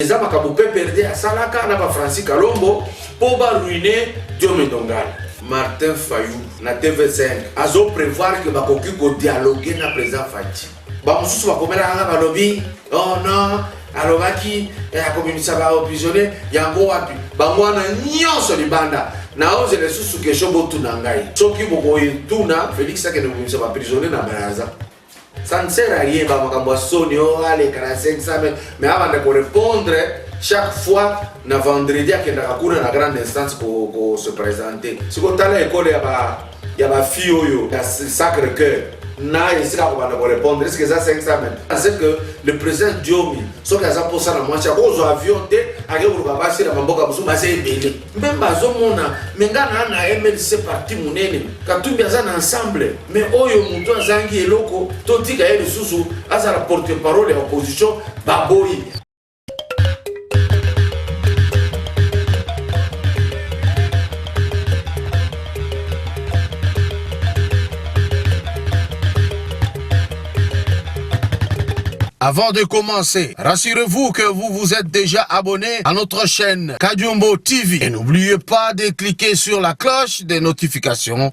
eza makambo pprd asalaka na ba francis kalombo mpo baruine diome ndongala martin fayou na tv5 azo prevoir ke bakoki kodialoge na président faci bamosusu bakomelaka nga balobi oh non alobaki eh, akobimisa baoprisonnier yango wapi bango wana nyonso libanda naozela lisusu kesho botuna ngai soki bokoyetuna felix akende kobimisa baprisonnier na braza Ça ne sert à rien, bah, makambo ya soni, oh, aleka na 500 mais, mais abanda ko répondre chaque fois na vendredi akendaka kuna na grande instance ko, ko se présenter. Siko tala ekole ya ba ya ba fille oyo ya Sacre Cœur na esika kobanda ko répondre est-ce que eza 500 mais parce que le président Diomi soki aza posa na mwasi akozwa avion te ake koluka basi na mamboka mosusu basi ebele mpe bazomona me ngai naa na mlc parti monene katumbi aza na ensemble mais oyo moto azangi eloko totika ye lisusu azala porte parole ya opposition baboyi Avant de commencer, rassurez-vous que vous vous êtes déjà abonné à notre chaîne Kadiumbo TV. Et n'oubliez pas de cliquer sur la cloche des notifications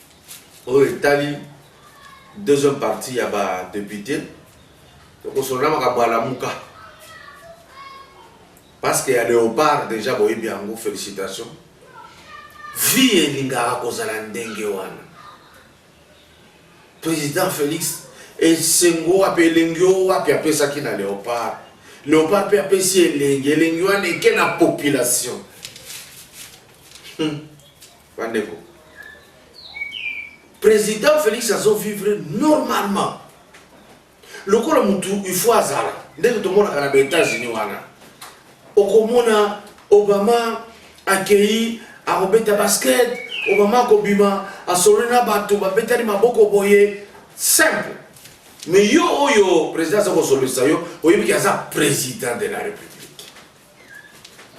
oyo etali deuxième partie ya ba député tokosolola makambo ya lamuka parce que ya léopard déjà boyebi yango félicitation vie elingaka kozala ndenge wana président félix esengo wapi elengi o wapi apesaki na léopard léopard mpe apesi elengi elengi wana eke na population hmm. Bandeko, President Felix azo vivre normalement. Lokola mutu il faut azala. Ndenge tomonaka na ba Etats-Unis wana. Okomona Obama akeyi akobeta basket, Obama akobima asololi na bato babetani maboko boye simple. Mais yo oyo president aza kosololisa yo, oyebi ke aza president de la Republique.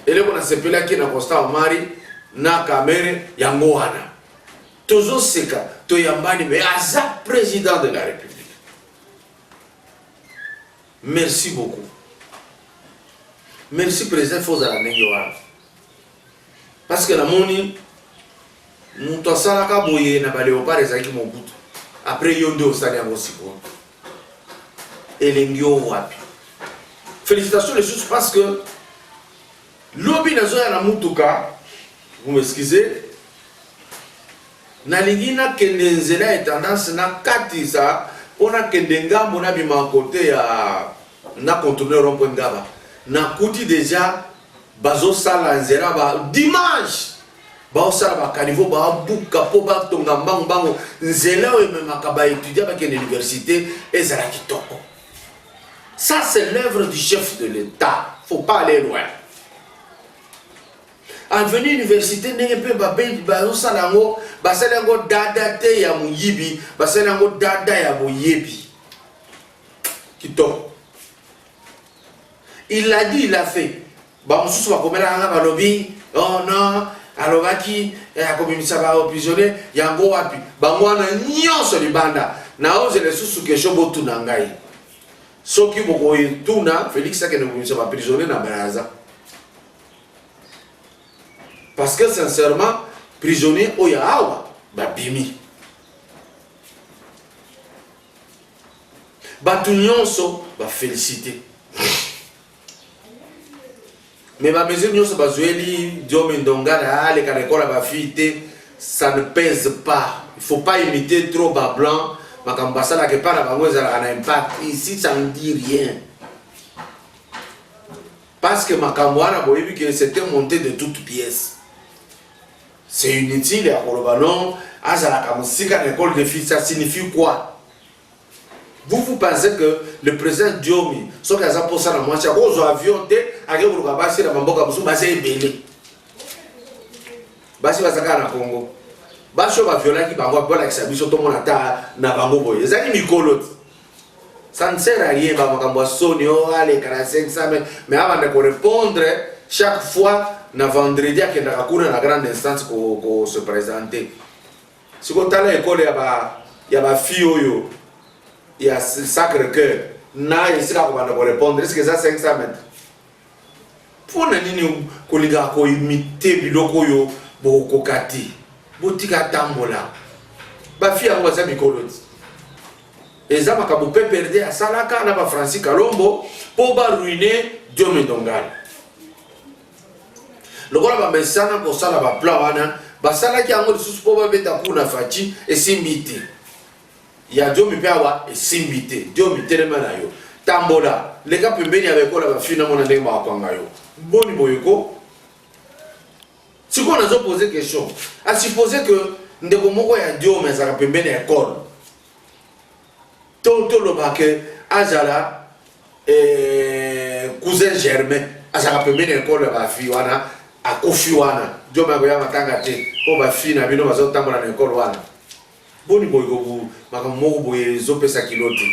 eleko nasepelaki na constant omari na kamere yango wana tozoseka toyambani me aza président de la république merci beaucoup merci président fo ozala ndenge wana parce que namoni moto asalaka boye na baleopard ezalaki mobutu après yo nde osali yango sikoyo elengi oyo wapi félicitations lisusu parce que lobi nazoya na mutuka vous m'excusez nalingi nakende nzela ya tendance nakatisa mpo nakende ngambo nabima kote ya na contourne rompwe ngaba nakuti deja bazosala nzela ba dimanche baosala bakanivo babuka mpo batonga mbangu mbangu nzela oyo ememaka baétudiant bakende université ezala kitoko ça c'est l'œuvre du chef de l'état faut pas aller loin avenue université ndenge mpe bazosala yango basali yango dada te ya moyibi basali yango dada ya boyebi kitoko il a dit il a fait Bamosusu bakomelaka nga balobi oh non alobaki eh, akobimisa baoprisonnier yango wapi bango wana nyonso libanda naozela lisusu kesho botuna ngai soki bokoyetuna felix akende kobimisa baprisonnier na braza parce que sincèrement prisonnier oyo awa babimi bato nyonso bafelicite mais ba mesure nionso bazueli diome ndongana aleka na ekola ba fille te ça ne pèse pas il faut pas imiter trop ba blanc makambo basalaka epai na bango ezalaka na impact ici ça ne dit rien parce que makambo wana boyebi que c'était monté de toute pièce c'est inutile ya koloba non azalaka mosika na ekole de fille ça signifie quoi Vous vous pensez que le president Diomi soki aza posa na mwasi akozwa avion te ake koluka basi na bamboka mosusu baza ebele basi baza kaka na Congo basi oyo baviolaki bango akolakisa biso tomona ata na bango boye ezali mikolo ti ça ne sert à rien ba makambo ya soni o oh, aleka na 500 me mais abanda korépondre chaque fois na vendredi akendaka kuna na grande instance ko, ko se présenter Siko tala ekole ya ba ya ba fille oyo ya Sacre Cœur na esika kobanda ko répondre est-ce que eza 500 mètres mpo na nini kolinga koimite biloko oyo bokokoka te botika atambola bafi yango baza mikolo ti eza makambo mpe perde asalaka na bafrancis kalombo mpo baruine diomedongal lokola bamesana kosala baplan wana basalaki yango lisusu mpo babeta ku na faci esimbi te ya diomi mpe awa esimbi te diomi telema na yo tambola leka pembeni ya baekola bafina mona ndenge bakakwanga yo boni boyeko sikoyo nazo pose question asupose ke ndeko moko ya diome azalaka pembeni ya ekole To toloba que azala eh, cousin germain azalaka pembeni ya ekolo ya bafi wana akufi wana job yango ya matanga te mpo bafi na bino bazotambola na ekolo wana boni boye makambo moko boye ezopesa kilo te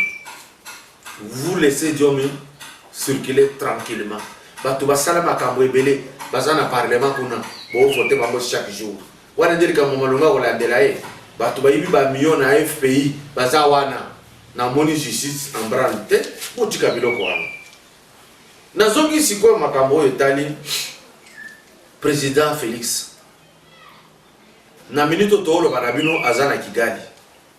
vous laissez diomi circuler tranquillement bato basala makambo ebele baza na parlement kuna boovote bango chaque jour Wana nde likambo ya malonga kolandela ye. Bato bayibi ba millions na FPI baza wana. Namoni justice en branle te, botika biloko wana. Nazongi sikoyo makambo oyo etali president Felix. Na minute oyo tooloba na bino aza na Kigali.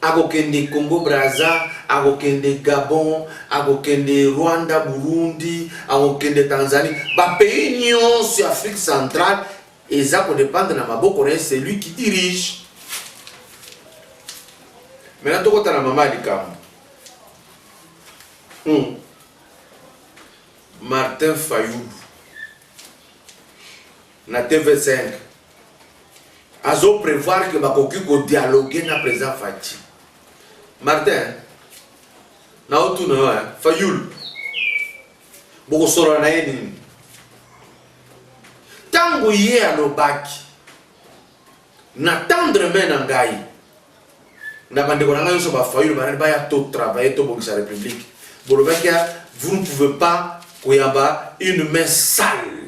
akokende Congo Brazza, akokende Gabon, akokende Rwanda, Burundi, akokende Tanzanie. Ba pays nyonso ya Afrique centrale eza ko dépendre na maboko na ye, c'est lui qui dirige. Maintenant tokota na mama ya likambo hmm. Martin Fayulu na TV5 azo prevoir que bakoki ko dialoguer na président Fatshi Martin na otuna yo hein Fayul bokosolola na ye nini ntango ye alobaki na tendre main na ngai na bandeko na ngai nyonso bafayulu banani baya to travailler tobongisa république bolobaki vous ne pouvez pas koyamba une main sale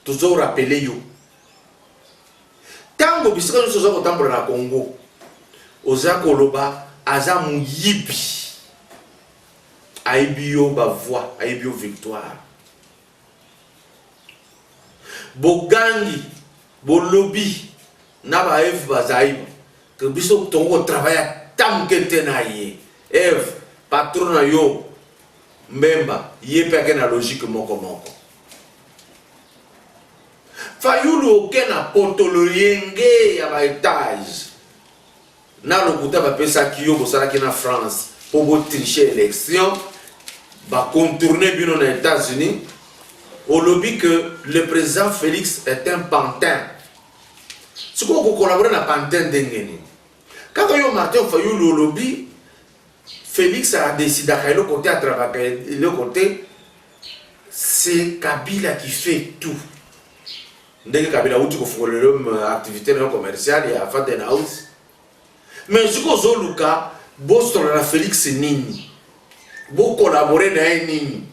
Tozo rappeler yo tango bisika nyonso oza kotambola na Congo oza koloba aza moyibi ayebi yo ba voix ayebi yo victoire bogangi bolobi na ba eve bazaiba ke biso tongo kotravaille ata moke te na ye eve patron na yo mbemba ye mpe ake na logique moko moko Fayulu oke na poto loyenge ya ba etage na lokuta bapesaki yo bosalaki na France mpo botriche élection bacontourne bino na États-Unis olobi que le président Félix est un pantin sikoyo kokolabore na pantin ndenge nini kaka yo Martin Fayulu olobi Felix a decidaka eloko te atravaka eloko te c'est Kabila qui fait tout ndenge Kabila awuti kofungolela yo euh, activité na yo commerciale ya Faden House mais soki ozoluka bosolo na Felix nini bokolabore na ye nini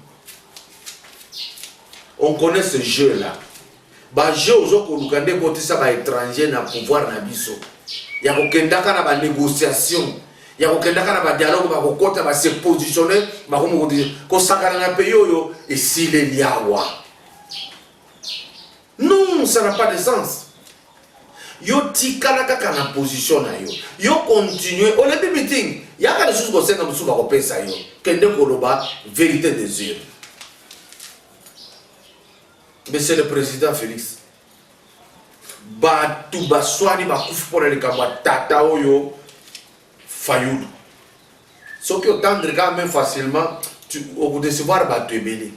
on connaît ce jeu là Ba jeux ozo koluka nde ekotisa ba etrangers na pouvoir na biso ya kokendaka na ba negociation ya kokendaka na ba dialogue bakokota ba se positionner bakomi kosakana na pays oyo esili eliawa non ça n'a pas de sens yo tikala kaka na position na yo yo continue olebi meeting yaka lisusu kosenga mosusu bakopesa yo kende koloba verité des yeux Monsieur le President Felix, bato baswani bakufi mpo na likambo ya tata oyo Fayulu. Soki otendre kaka même facilement, okodecevoir bato ebele.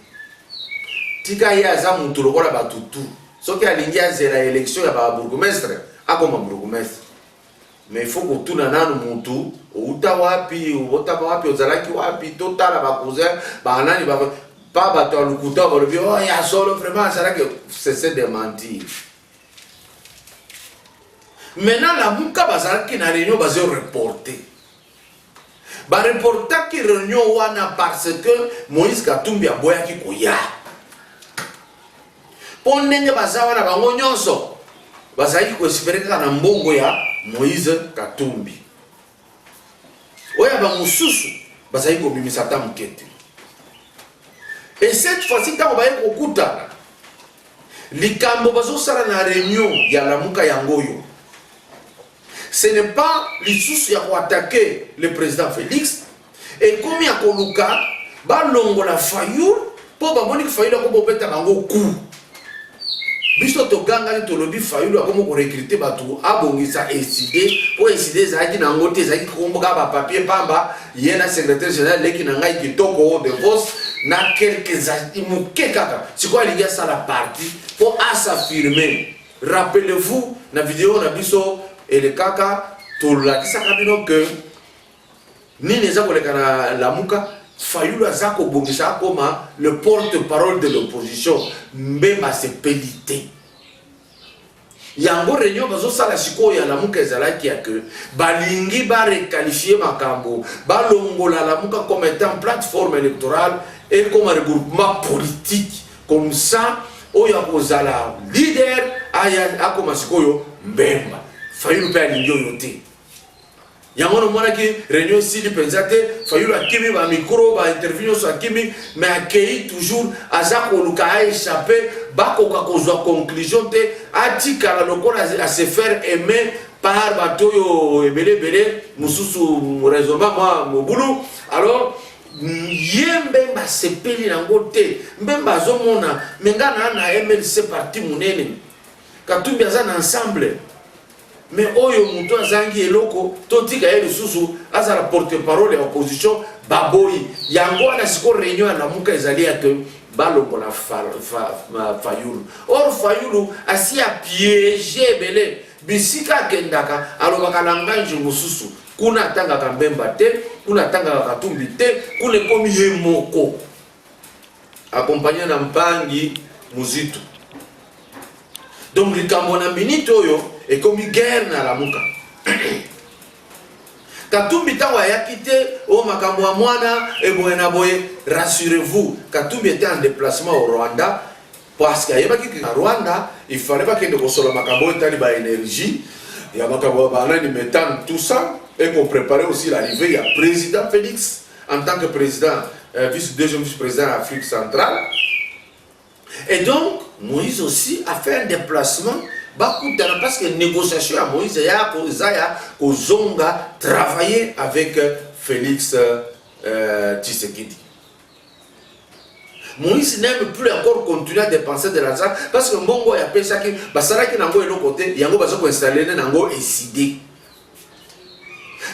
Tika ye aza moto lokola bato tu. Soki alingi azela élection ya ba bourgmestre, akoma bourgmestre. mais faut kotuna nanu mutu outa wapi obotama wapi ozalaki wapi totala bacousin banani ba pa bato ya lokuta balobi o oh, ya solo vraiment azalaki cesse de mentir maintenant lamuka bazalaki na réunion bazo reporte Ba reportaki reunion wana parce que Moïse Katumbi aboyaki koya. Mpo ndenge baza wana bango nyonso bazalaki koespere kaka na mbongo ya Moïse Katumbi. Oyo ya bamosusu bazali kobimisa ata moke te. Et cette fois-ci ntango baye kokutana likambo bazosala na reunion ya lamuka yango oyo Ce n'est pas lisusu ya ko attaquer le président Felix et comme ya koluka balongola Fayul mpo bamoni Fayul akomi kobeta bango coup biso togangani tolobi Fayulu akomi korekrute bato abongisa eside mpo eside ezalaki na yango te ezalaki kokomboka bapapier mpamba ye na secrétaire général leki na ngai kitoko de vos na quelques moke kaka sikoyo alingi asala parti mpo asafirme Rappelez vous na video na biso elekaka tolakisaka bino que nini eza koleka na lamuka fayulu aza kobongisa akoma le porte parole de l'opposition mbemba asepeli te yango réunion bazosala sikoyo ya lamuka ezalaki ya ke balingi barekalifie makambo balongola lamuka comme étant plateforme électorale ekoma regroupement politique Comme ça, oyo akozala leader aya akoma sikoyo mbemba. Fayulu mpe alingi oyo te. yango namonaki réunion esili mpenza te fayulu akimi bamikro bainterview nyonso akimi me akei toujours aza koluka aechappe bakoka kozwa conclusion te atikala lokola ase faire aime par bato oyo ebele ebele mosusu raisonnement mwa mobulu alors ye mbemba asepeli nango te mbemba azomona me nga naa na mlc parti monene katumbi aza na ensemble me oyo moto azangi eloko totika ye lisusu azala porte parole ya opposition baboyi yango wana siko réunion ya lamuka ezali ya te balongola fayulu or fayulu asi apiege ebele bisika akendaka alobaka langage mosusu Kuna atangaka Mbemba te, kuna atangaka Katumbi te, kuna ekomi ye moko akompanye na Mpangi Muzitu. Donc likambo na minute oyo ekomi guerre na Lamuka. Katumbi ntango ayaki te o oh, makambo ya mwana eboye na boye, rassurez-vous, Katumbi était en déplacement au Rwanda Parce que ayebaki que na Rwanda il fallait bakende kosolola makambo oyo etali ba energie ya makambo ya banani metane tout ça et qu'on prépare aussi l'arrivée ya président Félix en tant que président euh, vice deuxième vice président ya Afrique centrale et donc Moïse aussi a fait un déplacement bakutana parce que négociation ya Moïse ya eza ya kozonga travailler avec euh, Félix euh, Tshisekedi moïse n'aime plus encore continuer à dépenser de l'argent parce que mbongo oyo apesaki basalaki nango eloko te yango baza koinstalle ne nango eside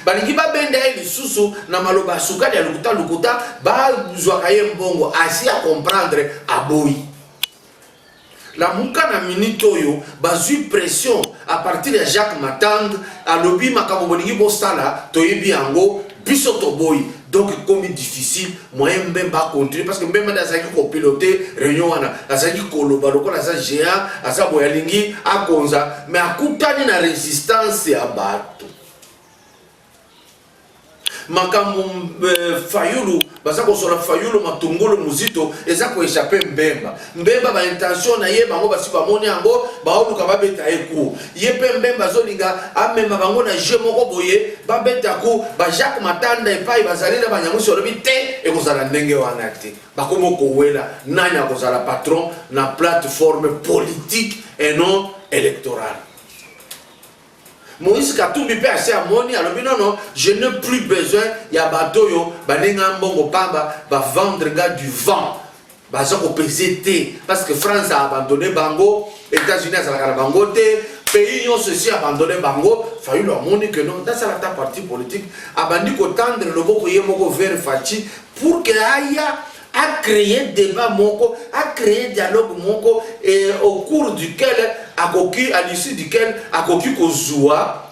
balingi babenda ye lisusu na maloba ya sukali ya lokuta lokuta bazwaka ye mbongo asi ya comprendre aboyi Lamuka na minute oyo bazui pression a partir ya Jacques Matang alobi makambo bolingi bosala toyebi yango biso toboyi donc ekomi difficile moyen mbemba acontinue parce que mbemba nde azalaki kopilote réunion wana azalaki koloba lokola aza géant aza boye alingi akonza mais akutani na résistance ya bato makambo euh, fayulu baza kosola fayulu matungulu muzito eza koechape mbemba mbemba baintention na ye bango basi bamoni yango baoluka babeta ye ku ye mpe mbemba azolinga amema bango na jeu moko boye babeta ku bajacques matanda epai bazali na banyangusi olobi te ekozala ndenge wana te bakomi kowela nani akozala patron na plateforme politique et non électorale Moïse Katumbi pe asi amoni alobi non non je n'ai plus besoin ya bato oyo bande nga mbongo pamba ba vendre nga du vent baza kopese te parce que France a abandonné bango États-Unis azalaka na bango te pays nyonso esi abandonné bango Fayulu amoni que non nasala ta parti politique abandi kotandre loboko ye moko vers Fatshi pour que aya a cree debat moko a cree dialogue moko et au cours duquel akoki à l'issue duquel akoki kozua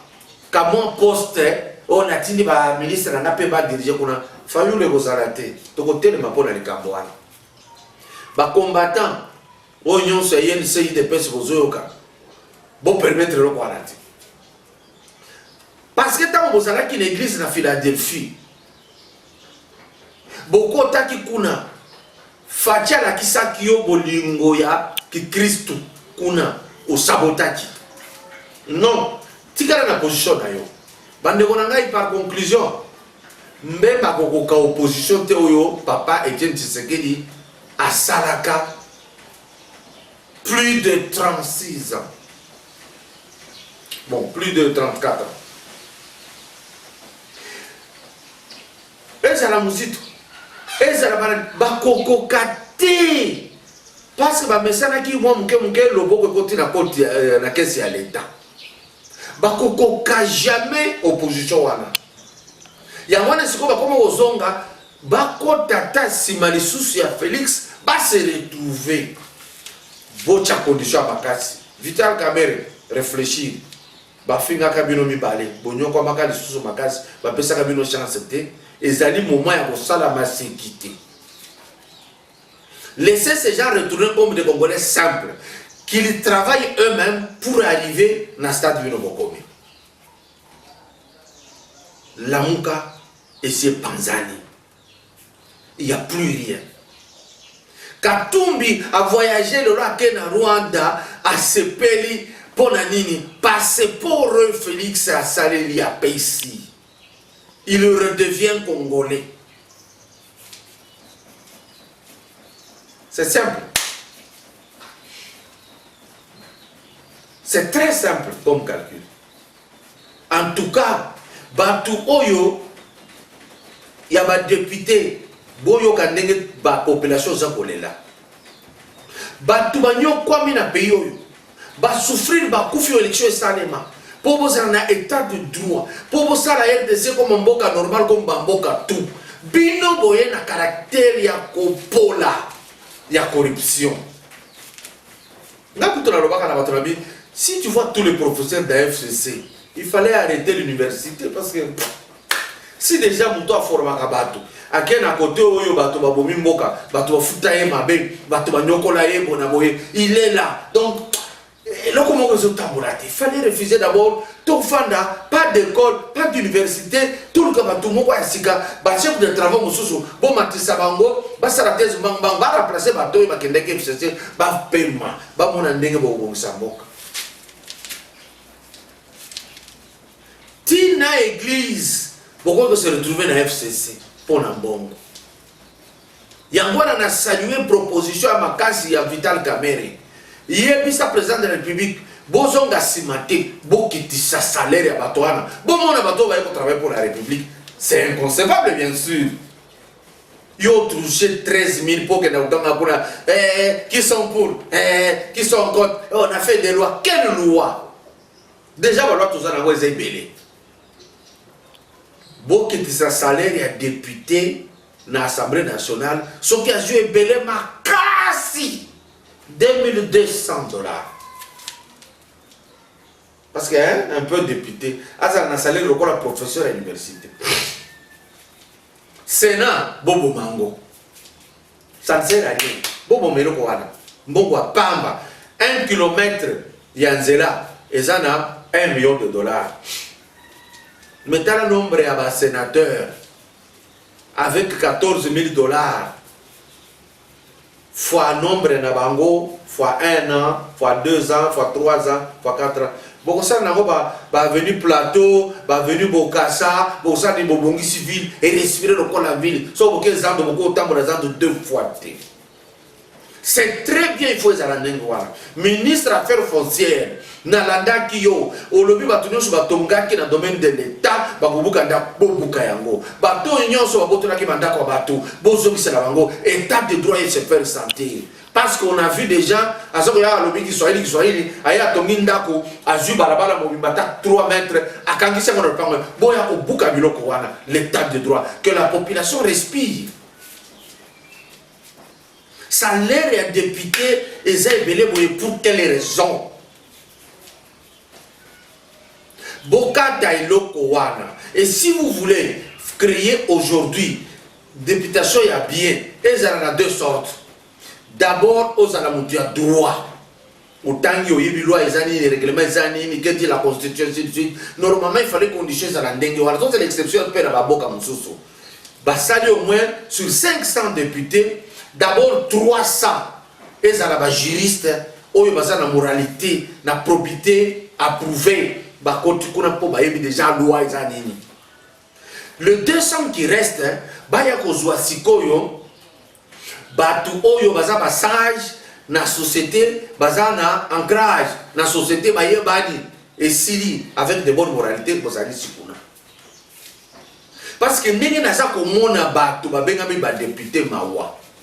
kamwa poste oyo natindi baministre na ngai mpe badirige kuna fayulu ekozala te tokotelema mpo na likambo wana bacombattant oyo nyonso ya yenc idps bozoyoka bopermettre eloko wana te parce que ntango bozalaki na eglise na philadelphie bokotaki kuna faci alakisaki yo bolingo ya kikristu kuna osabotaki non tikala na position na yo bandeko na ngai par conclusion mbemba akokoka opposition te oyo papa etienne tshisekedi asalaka Plus de 36 ans. Bon, plus de 34 ans. ezala mozito ezala bakokoka te parce que bamesanaki mwa moke moke loboko ekoti na koti euh, na kesi ya leta bakokoka jamais opposition wana yango wana sikoyo bakoma kozonga Bakota ata sima lisusu ya Felix ba se retrouver. Bocha condition ya makasi. Vital Kamerhe reflechir. Bafingaka bino mibale, bonyokwamaka lisusu makasi, bapesaka bino chance te. Ezali moment ya kosala maseki te. Laissez ces gens retourner comme des Congolais simples, qu'ils travaillent eux-mêmes pour arriver na stade bino bokomi. Lamuka esi epanzani. Il n'y a plus rien. Katumbi a voyagé lelo ake na Rwanda asepeli mpo na nini? Passeport Felix asaleli apesi. Il redevient congolais. C'est simple. C'est très simple comme calcul. En tout cas batu oyo ya ba depute boyoka ndenge ba population oza kolela batu banyokwami na pays oyo basouffrir bakufi oyo election esalema mpo bozala na état de droit mpo bosala rdc koma mboka normal comme bamboka tout bino boye na caractère ya kopola ya corruption Nga kutu nalobaka na bato na bi, si tu vois tous les professeurs d'un FCC, il fallait arrêter l'université parce que si déjà moto aformaka bato ake na kote oyo bato babomi mboka bato bafuta ye mabe bato banyokola ye bona boye il est là donc eloko moko ezotambola te fallait refuser d'abord tofanda pas d'école pas d'université toluka bato moko ya sika bachef de travaux mosusu bomatisa bango basala tese mbangbang baremplace bato oyo bakendaki fcc bapema bamona ndenge bokobongisa mboka tina eglise bokoki kose retrouve na fcc mpo na mbongo Yango wana na saluer proposition ya makasi ya Vital Kamerhe. Yebisa president de la Republique bozonga sima te, bokitisa salaire ya bato wana. Bomona bato oyo baye ko travailler pour la République. C'est inconcevable bien sûr. Yo touché 13 000 pour que Nautanga Kuna, eh, qui sont pour, eh, qui sont contre. Eh, on a fait des lois. Quelle loi Déjà, la loi, tout ça, on a Bokitisa salaire ya député na Assemblée nationale soki azwi ebele makasi 2200 dollars parce que hein, un peu député azala na salaire lokola professeur ya université sénat boboma yango ça ne sert à rien boboma eloko wana mbongo ya pamba 1 kilomètre ya nzela eza na 1 million de dollars mais tala nombre ya basénateur Avec 14000 dollars fois nombre na bango fois 1 an fois 2 ans fois 3 ans fois 4 ans bokosala nango bavenu ba plateau bavenu bokasa bokosala nini bobongisi ville erespire lokola ville soko boke zando bokotambola zando deux fois te C'est très bien, il faut ezala ndenge wana. Ministre affaires foncières, nalandaki yo, olobi bato nyonso batongaki na domaine de l'État, bakobuka ndako, bobuka yango. Bato oyo nyonso babotolaki bandako ya bato, bozongisela bango, état de droit et se faire sentir. Parce qu'on a vu des gens, aza koya alobi Kiswahili Kiswahili, aye atongi ndako, azwi balabala mobimba ata 3 mètres, akangisi yango na lopango. Boya kobuka biloko wana, l'état de droit, que la population respire. Salaire ya depute eza ebele boye pour quelle raison? Bokata eloko wana. Et si vous voulez créer aujourd'hui députation ya bien ezala na deux sortes. D'abord ozala mutu ya droit. otangi oyebi loi eza nini règlement eza nini que dit la constitution ainsi de suite normalement il fallait condition ezala ndenge wana tozala exception mpe na baboka mosusu basali au moins sur 500 députés d'abord 300 ezala bajuriste oyo baza na moralité na probité approuvé bakoti kuna mpo bayebi déjà loi eza nini Le 200 qui reste baya kozwa sikoyo bato oyo baza ba sage na société baza na ancrage na société bayebani esili avec de bonne moralité bozali sikuna parce que ndenge naza komona bato babengami badepute mawa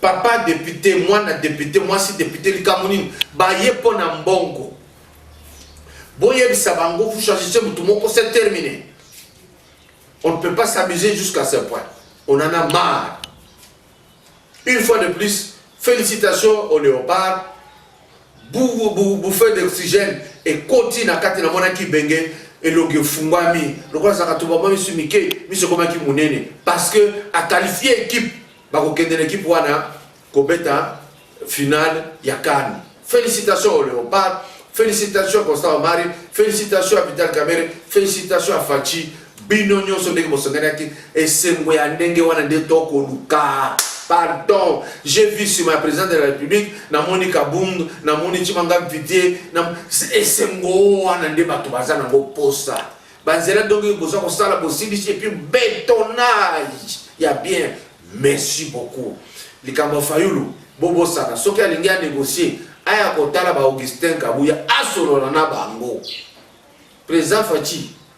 Papa depute, mwana depute, mwasi depute likambo nini? Baye mpo na mbongo. Boyebisa bango vous choisissez motu moko c'est terminé. On ne peut pas s'amuser jusqu'à ce point. On en a marre. Une fois de plus, félicitations au léopard bouffee d'oxygène ekoti na kati namonaki benge elongi efungwami lokola zakatuba mwa misu mike miso ekomaki monene parce que akalifie ekipe bakokende na ekipe wana kobeta finale ya kane félicitation au léopard félicitation constant omari félicitation ya vital kamere félicitation ya faci Bino nyoso ndenge bosengelaki esengo ya ndenge wana nde tokoluka. Pardon, j'ai vu sur ma présidente de la République, namoni Kabund, namoni Chimanga Mvitie, nam... esengo wana nde bato baza nango posa. Banzela dongi boza kosala bosilisi et puis bétonnage ya bien. Merci beaucoup. Likambo Fayulu, bobosana soki alingi a négocier aya kotala ba Augustin Kabuya asolola na bango. Président Fatshi